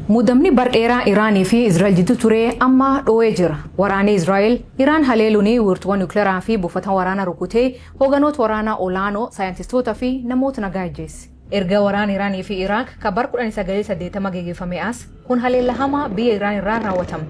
Muddamni bar dheeraa Iraanii fi Israa'el jidduu ture amma dhooyee jira. Waraanii Israa'el Iraan haleeluun wiirtuuwwan nukilaraa fi buufata waraanaa rukutee hooganoota waraanaa olaanoo, saayintistoota fi namoota nagaa ajjeesse. Erga waraana Iraanii fi Iraaq ka bar 1980 geggeeffamee as kun haleellaa hamaa biyya Iraan irraa raawwatame.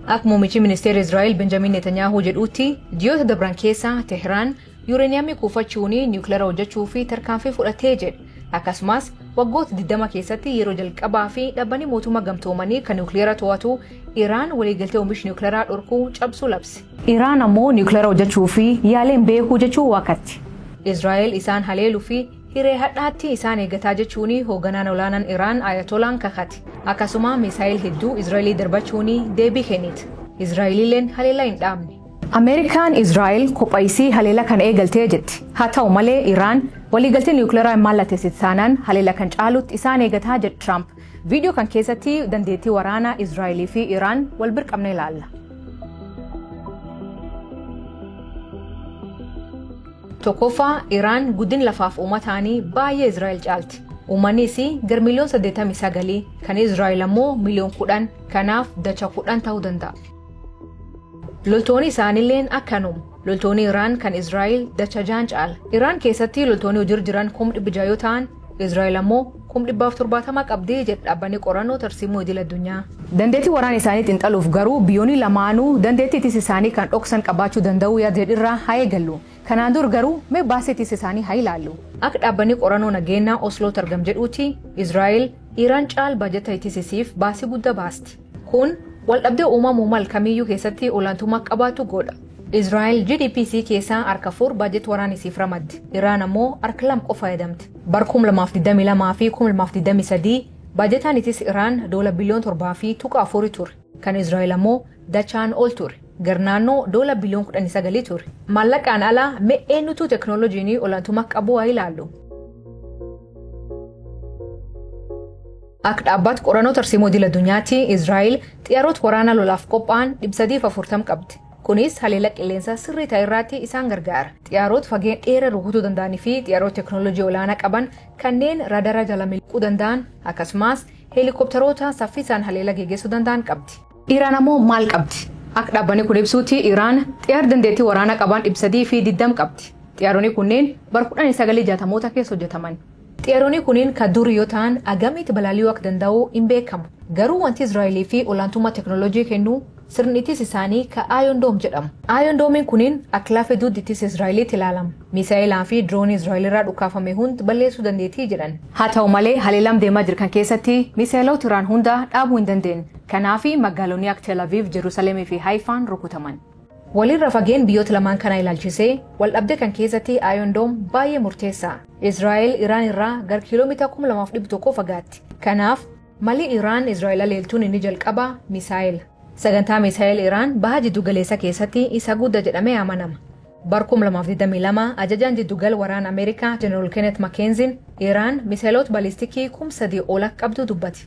Akka muummichi ministeera Israa'el Benjamiin Netanyaahuu jedhuutti ji'oota dabran keessa Tehiraan Yuureeniyamii kuufachuun niwukilara hojjechuu fi tarkaanfii fudhatee jedhe. Akkasumas waggoota 20 keessatti yeroo jalqabaa fi dhaabbanni mootummaa gamtoomanii kan niwukilara to'atu Iraan waliigaltee oomish niwukilaraa dhorkuu cabsuu labse. Iraan ammoo niwukilara hojjechuu fi yaaleen beekuu jechuun waakatti. Israa'el isaan haleelu fi hiree hadhaatti isaan eegataa jechuun hoogganaan olaanaan Iraan Ayatolaan kakate. Akkasuma misaayil hedduu Israa'elii darbachuun deebii kennite. Israa'eliilleen haleellaa hin dhaabne. Ameerikaan Israa'el kopha isii haleela kan eegaltee jetti. Haa ta'u malee Iraan waliigaltee niwukilaraa hin mallatteessite taanaan haleela kan caalutti isaan eegataa jedhe Tiraamp. Viidiyoo kan keessatti dandeettii waraanaa Israa'elii fi Iraan wal bir qabnee ilaalla. Tokkoffaa Iraan guddin lafaaf uumataanii baay'ee Israa'el caalti. Uummanni isii gar miliyoon 89 kan Israa'el ammoo miliyoon 10 kanaaf dacha 10 ta'uu danda'a. Loltooni isaanilleen akkanum. Loltooni Iraan kan Israa'el dacha jaan caala. Iraan keessatti loltooni hojir jiran kum dhibbi ja'a yoo ta'an, Israa'el ammoo kum dhibbaaf torbaatama qabdi jedha dhaabbanni qorannoo tarsiimoo idil addunyaa. Dandeettii waraana isaanii xinxaluuf garuu biyyooni lamaanuu dandeettii ittisa isaanii kan dhoksan qabaachuu danda'uu yaad jedhu irraa haa eegallu. Kanaan dur garuu mee baasii ittisa isaanii haa ilaallu. Akka dhaabbanni qorannoo nageennaa Oslootti argam jedhuuti, Israa'el Iraan caal baajata ittisa isiif baasii gudda baasti. Kun waldhabdee uumamuu mal kamiyyuu keessatti olaantummaa akka qabaatu godha. Israa'el GDP isii keessaa harka afur baajet waraana isiif ramaddi. Iraan ammoo harka lama qofa fayyadamti. Bara 2022 fi 2023 baajetaan itis Iraan doola biliyoon 7 fi tuqa 4 ture. Kan Israa'el ammoo dachaan ol ture. Gar naannoo doola biliyoon 19 ture. Maallaqaan ala mee eenyutu teknooloojiin olaantummaa akka qabu haa ilaallu. Akka dhaabbaat qorannoo tarsiimoo idil addunyaatti Israa'el xiyyaarota waraanaa lolaaf qophaa'an 340 qabdi. Kunis haleellaa qilleensaa sirrii ta'e irraatti isaan gargaara. Xiyyaarota fageenya dheeraa rukutuu danda'anii fi xiyyaarota teeknooloojii olaanaa qaban kanneen raadara jala miliquu danda'an akkasumas heelikooptaroota saffisaan haleellaa geggeessuu danda'an qabdi. Iraan ammoo maal qabdi? Akka dhaabbanni kun ibsuutti Iraan xiyyaara dandeettii waraanaa qaban 320 qabdi. Xiyyaaronni kunneen bara 1960moota keessa hojjetaman. Xiyaronii kuniin ka durii yoo ta'an agamiit balali'uu akka danda'uu hin beekamu. Garuu wantii Israa'elii fi olaantummaa teknolojii kennu sirni ittisa isaanii ka Iron Dome jedhamu. Iron Dome'n kuniin akka lafee duuddi ittisa Israa'eliitti ilaalama. Miisa'eelaa fi diroonii Israa'el irraa dhukaafame hund balleessuu dandeetii jedhan. Haa ta'u malee haleelam deemaa jir kan keessatti miisa'eloota Iraan hunda dhaabuu hin dandeenne. Kanaafi magaalonii akka Tel Aviv, Jerusalem fi Haifaan rukutaman. Walirra fageen biyyoota lamaan kanaa ilaalchisee waldhabdee kan keessatti Iron Dome baay'ee murteessa. Israa'el Iraan irraa gar kiiloomita 2,100 fagaatti. Kanaaf malii Iraan Israa'el aleeltuun inni jalqabaa misaa'ela. Sagantaa misaa'el Iraan baha jiddu galeessa keessatti isa gudda jedhamee amanama. Bar 2022 ajajaan jiddugal waraana Ameerikaa General Kenneth McKenzie Iraan misaa'eloot balistikii kum sadii ol akka qabdu dubbate.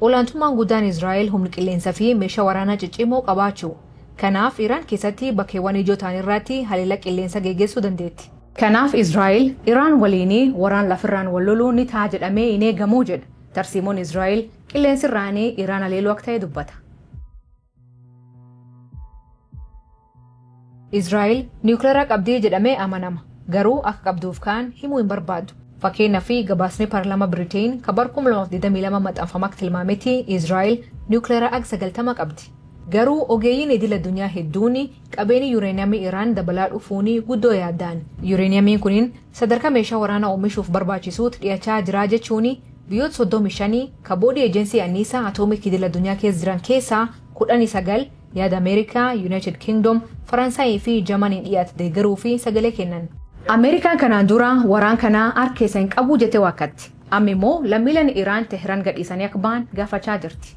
Olaantummaan guddaan Israa'el humn qilleensa fi meeshaa waraanaa ciccimoo qabaachu. Kanaaf Iraan keessatti bakkeewwan ijoo ta'an irraatti haleela qilleensa geegeessuu dandeetti. Kanaaf Israa'el Iraan waliini waraan lafirraan wal loluu ni ta'a jedhamee hin eegamu jedha. Tarsiimoon Israa'el qilleensirraani Iraan haleeluu akka ta'e dubbata. Israa'el niwukilaraa qabdii jedhamee amanama. Garuu akka qabduuf kaan himuu hin barbaaddu. Fakkeenyaa fi gabaasni paarlaamaa Biriteen ka bara 2022 maxxanfame akka tilmaametti Israa'el niwukilaraa ag 90 qabdi. Garuu ogeeyyiin idil addunyaa hedduun qabeenyi yuureeniyamii Iraan dabalaa dhufuun guddoo yaadda'an. Yuureeniyamiin kunin sadarkaa meeshaa waraanaa oomishuuf barbaachisuutti dhiyachaa jira jechuun Biyyoota 35 ka Boodii Eejensii Anniisaa Atoomik Idil Addunyaa keessa jiran keessaa kudhanii sagal yaada Ameerikaa, Yunaayitid Kingdom, Faransaayii fi Jamaniin dhiyaate deeggaruu fi sagalee kennan. Ameerikaan kanaan dura waraan kana hark keessa hin qabu jettee waakkatte. Amma immoo lammiileen Iraan Teehran gadhiisanii akka bahan gaafachaa jirti.